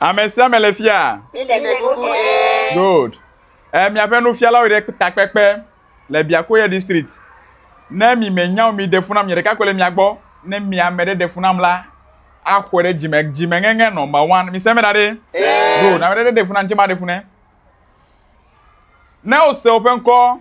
Ame sia ame le fia. Good. Eh, miaƒe nufialawo ɖe takpekpe le Biakoya district. Ne mi menya mi ɖe funa mi ɖeka ko le mia gbɔ. Ne mi ame ɖe ɖe funa la, axɔe ɖe dzime dzime ŋeŋe nɔmba one. Mi sɛmɛ ɖaɖe. Good. Ame ɖe ɖe funa ŋtsɛ ma ɖe funa. Ne o se o ƒe ŋkɔ.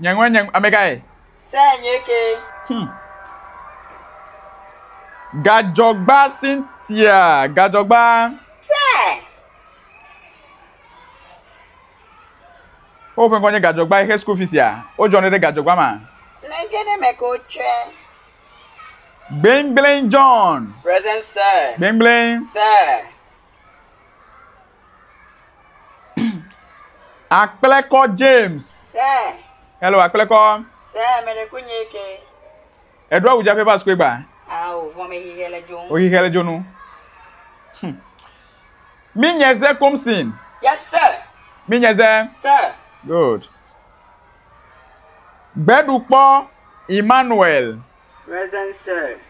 Nyeŋɔ nye amekae? Se nye ke. Hmm. Gadzɔgba Cynthia, gadzɔgba. Se. Wo ƒe ŋkɔ nye gadzɔgba exe school fees ya. Wo jɔ ne ɖe gadzɔgba ma. Le ke ne me ko tsɔe. Gbengbleng John. Present sir. Gbengbleng. Sir. Akplekɔ James. Sɛ. Hello, akplekɔ. Sɛ, mɛ ɖe kunye ke. Eɖo awu dzaƒe va sukue gba. Awo, vɔ me xixɛ le dzonu. O xixɛ le dzonu. Hm. Mi nye ze komsin. Yes, sir. Mi nye ze. Sir. Good. Gbeɖukpɔ Emmanuel. Present, sir.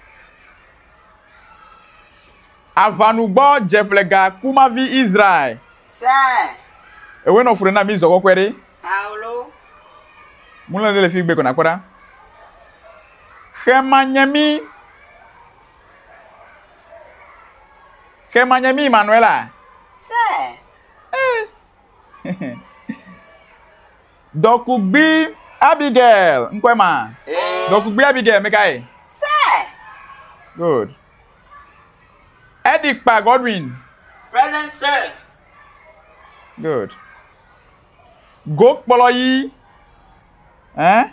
Aʋanugbɔdzeƒlega kumavi Israel. Se. Ewe nɔ fure na mi zɔgɔ kɔe ɖe. Paulo. Mule ɖe le fi gbe kɔ na kpɔ ɖa. Xe ma nye mi. Xe ma nye mi Manuela. Se. Dɔkugbi Abigail, ŋkɔe ma. Dɔkugbi Abigail, mekae? Se. Good. Eddie Kpa Godwin. Present sir. Good. Go kplɔ yi. Eh?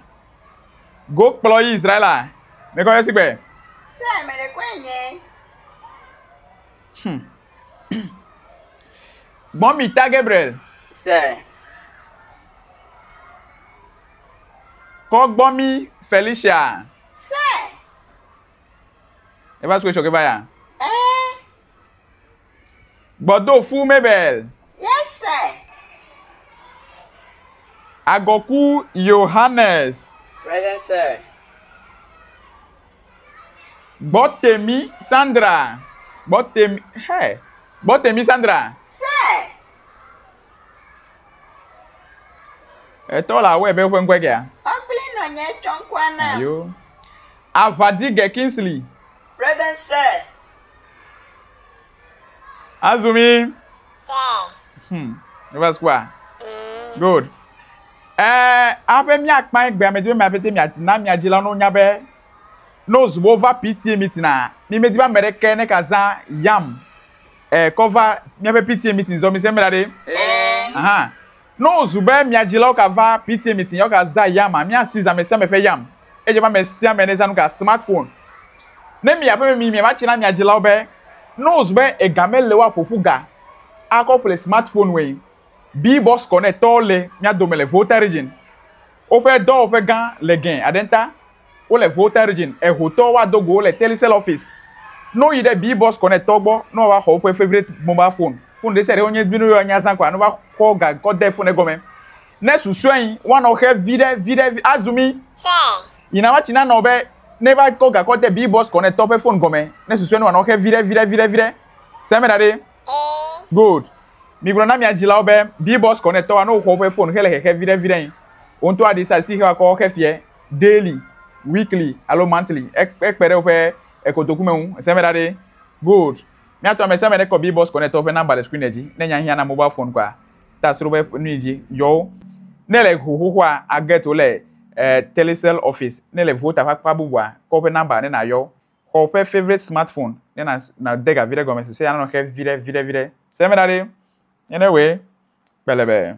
Go kplɔ yi Israela. Me kɔ yesi gbe. Sir, me de kɔe nye. Hmm. Mɔmi ta Gabriel. Sir. Kɔ gbɔ mi Felicia. Eva sukue sɔ keba ya. Eh. Gbɔdo fu Mabel. Yes sir. Agɔku Yohanes. Present sir. Gbɔtemi Sandra. Gbɔtemi, hey. Gbɔtemi Sandra. Sir. Etɔ la wɔe be ƒe ŋkɔe kea? Ɔkpli nɔ nye tsɔ ŋkɔa na. Ayo. Avadige Kingsley. Present sir. Azumi. Wow. Hmm. Eva sukua. Mm. Good. Eh, abe miakpa egbe ame dzi be miapete mia na mia dzi la no nya be no zubo va PTA meeting a. Mi medi ba meɖe ke ne ka za yam. Eh, kɔ va míaƒe PTA meeting zɔ mise mla ɖe. Eh. Aha. No zu be mia dzilawo ka va PTA meeting yɔ ka za yam a mia si zame sia me ƒe yam. Edze be ame sia ame ne za nu ka smartphone. Ne mi aƒeme mi mia va tsi na mia dzilawo be no zu be ega me le wo a ƒoƒu ga a kɔ ƒle smartphone woe. Bi boss kɔ ne tɔwo le mia dome le Volta region. Woƒe dɔwɔƒe gã le gɛn aɖe ŋta. Wo le Volta Region, eho tɔ wa do go wo le Telecel office. No yi ɖe Bee Boss Connect tɔ gbɔ no wa wa xɔ woƒe favorite mobile phone. Phone ɖe sia ɖe wonye bino yɔ nya zã kɔa no va kɔ ga kɔ de phone egɔme. Ne susɔe yi wa nɔ xe viɖe viɖe vi a zumi. Phone. Yi na wa tsi na nɔ be ne va kɔ ga kɔ de Bee Boss Connect tɔ ƒe phone gɔme ne susɔe no wa nɔ xe viɖe viɖe viɖe viɖe. Se me ɖa ɖe. Oo. Good. Mi gblɔ na mia dzilawo be Bee Boss Connect tɔ wa no xɔ woƒe phone xe le xexe viɖe viɖe yi wo ŋutɔ a ɖi sa si xe wa kɔ xe fiɛ. daily, weekly alo monthly. Ekpe ɖe woƒe kotoku me ŋu. Ese me ɖa ɖe. Good. Míatɔ ame sia ame ɖe kɔ BBOS Connect ƒe nɔmba le screen dzi. Ne nya hiã na mobile phone kɔa, ta sro be nui dzi yɔ wo. Ne ele ho xoxoa, a get wo le eh, Telecel office. Ne ele Volta ƒe akpa bubua, kɔ woƒe nɔmba ne nàyɔ wo. Xɔ woƒe favorite smartphone ne nàde ga viɖe gɔme, susuea nanɔ xe viɖe, viɖe, viɖe. Ese me ɖa ɖe. Nene woe. Kpelebe.